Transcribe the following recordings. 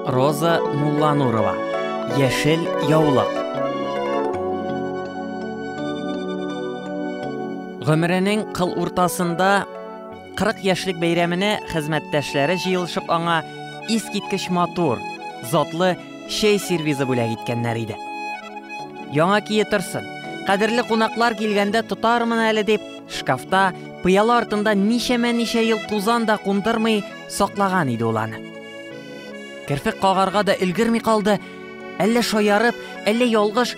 Роза Мулланурова. Яшел яулык. Гомеренең кыл уртасында 40 яшьлек бәйрәменә хезмәттәшләре җыелышып аңа искиткеч матур, затлы чәй сервизы бүләк иткәннәр иде. Яңа кие торсын. Кадерле кунаклар килгәндә тотармын әле дип, шкафта пыяла артында ничәмә ничә ел тузан да кундырмый саклаган иде ул аны. Керфек кагарга да өлгерми калды, әллә шаярып, әллә ялгыш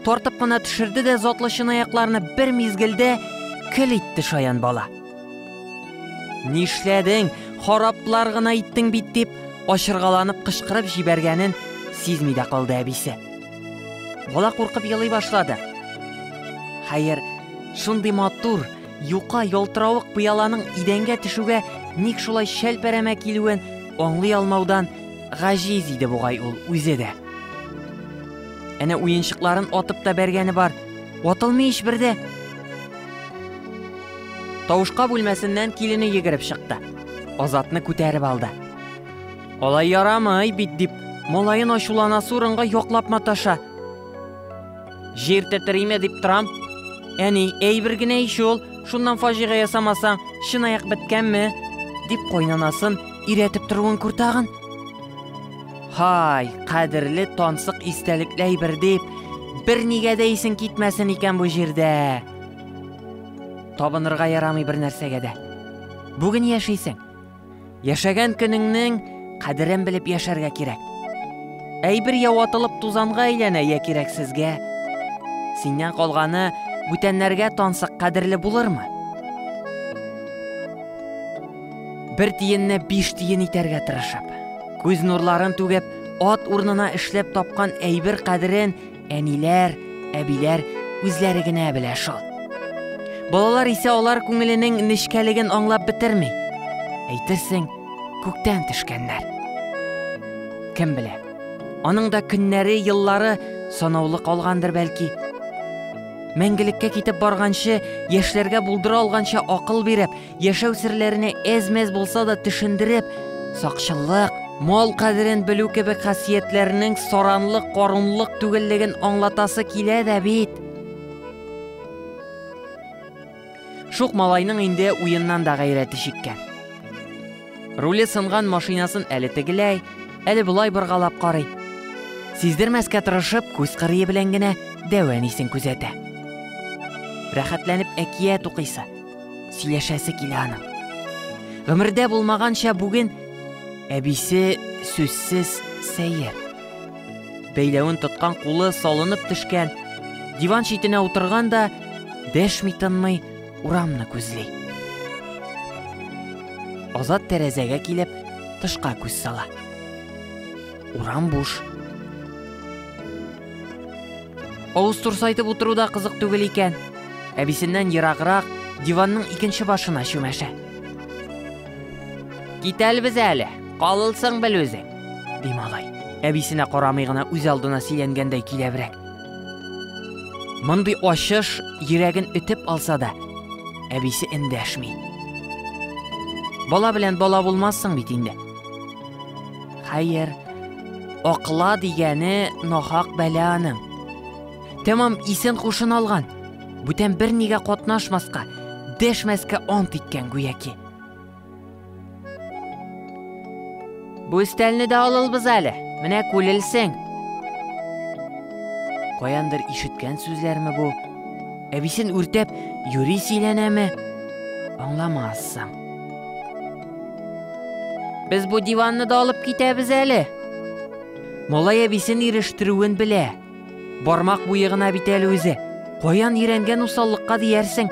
тартып кына төшерде дә затлы чынаякларны бер мизгелдә кел итте шаян бала. Нишләдең, хараплар гына иттең бит дип, ашыргаланып кычкырып җибәргәнен сизми дә калды әбисе. Бала куркып елый башлады. Хәер, шундый матур, Юка ялтыравык пыяланың идәнгә төшүгә ник шулай шәлпәрәмә килүен аңлый алмаудан гаҗиз иде бугай ул үзе дә. Әнә уенчыкларын атып та бәргәне бар. Атылмый ич бердә. Тавышка бүлмәсеннән килене йөгереп чыкты. Азатны күтәреп алды. Алай ярамый бит дип, малаен ачулана сурынга яклап маташа. Җир тәтериме дип торам. Әни, әйбер генә ич ул, шуннан фаҗига ясамасаң, чынаяк беткәнме? дип кайнанасын иретеп торуын күр тагын. Һай, кадерле тансык истәлекле әйбер дип, бер нигә дә исең китмәсен икән бу җирдә. Табынырга ярамый бер нәрсәгә дә. Бүген яшисең, Яшәгән көнеңнең кадерен белеп яшәргә кирәк. Әйбер я ватылып тузанга әйләнә, я кирәксезгә. Синнән калганы бүтәннәргә тансык кадерле булырмы? Бер тиенне биш тиен итәргә тырышып, күз нурларын түгеп, ат урнына эшләп тапкан әйбер кадерен Әниләр, әбиләр үзләре генә белә шул. Балалар исә алар күңеленең нечкәлеген аңлап бетерми. Әйтерсең, күктән төшкәннәр. Кем белә? Аның да көннәре, еллары санаулы калгандыр бәлки. Мәңгелеккә китеп барганчы, яшьләргә булдыра алганча акыл биреп, Яшәү серләренә әз-мәз булса да төшендереп, сакчыллык, мал кадерен белү кебек хасиятләрнең саранлык, корынлык түгеллеген аңлатасы килә дә бит. Шук малайның инде уеннан да гайрәте чиккән. Руле сынган машинасын әле тегеләй, әле болай боргалап карый. Сиздермәскә тырышып, күз кырые белән генә дәвә нисен күзәтә. Рәхәтләнеп әкият укыйсы. сөйләшәсе килә аның. Гомердә булмаганча бүген әбисе сүзсез сәер. Бәйләвен тоткан кулы салынып төшкән, диван читенә утырган да дәшми тынмый урамны күзли. Азат тәрәзәгә килеп тышка күз сала. Урам буш. Авыз турсайтып утыру да кызык түгел икән. Әбисеннән ераграк диванның икенче башына чүмәшә. Китәлбез әле, калылсың бел үзе, ди малай. Әбисенә карамый гына үз алдына сөйләнгәндәй киләбрәк. Мондый ачыш йөрәген өтеп алса да, әбисе эндәшми. Бала белән бала булмассың бит инде. Хәер, акла дигәне нахак бәлә аның. Тәмам исен хушын алган. Бүтән бернигә катнашмаска, дәшмәскә ант иткән гүяки. Бу өстәлне дә алылбыз әле. Менә күлелсең. Каяндыр ишеткән сүзләрме бу? Әбисен үртәп, юри сөйләнәме? Аңламассың. Без бу диванны да алып китәбез әле. Малай әбисен ирештерүен белә. Бармак буе гына бит әле үзе. Каян өйрәнгән усаллыкка диярсең.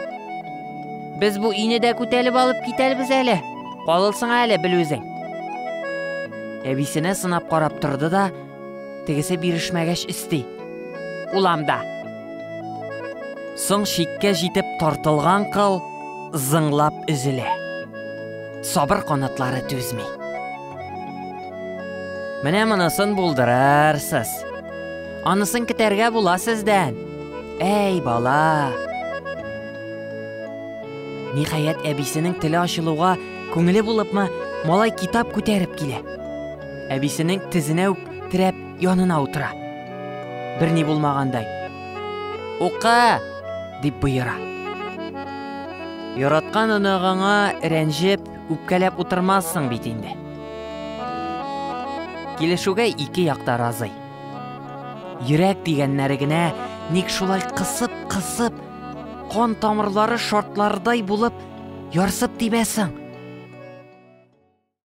Без бу өйне дә күтәлеп алып китәбез әле. Калылсың әле бел үзең. Әбисенә сынап карап торды да, Тегесе бирешмәгәч өсти. Уламда. Соң чиккә җитеп тартылган кыл зыңлап өзелә. Сабыр канатлары түзми. Менә монысын булдырарсыз. Анысын китәргә була сездән. Әй, бала. Ниһаять, әбисенең теле ачылуга күңеле булыпмы, малай китап күтәреп килә. Әбисенең тезенә үк терәп янына утыра. Берни булмагандай. Укы! дип боера. Яраткан оныгыңа рәнҗеп, үпкәләп утырмассың бит инде. Килешүгә ике якта разый. Йөрәк дигәннәре генә ник шулай кысып-кысып, кан тамырлары шартлардай булып ярсып тибәсең.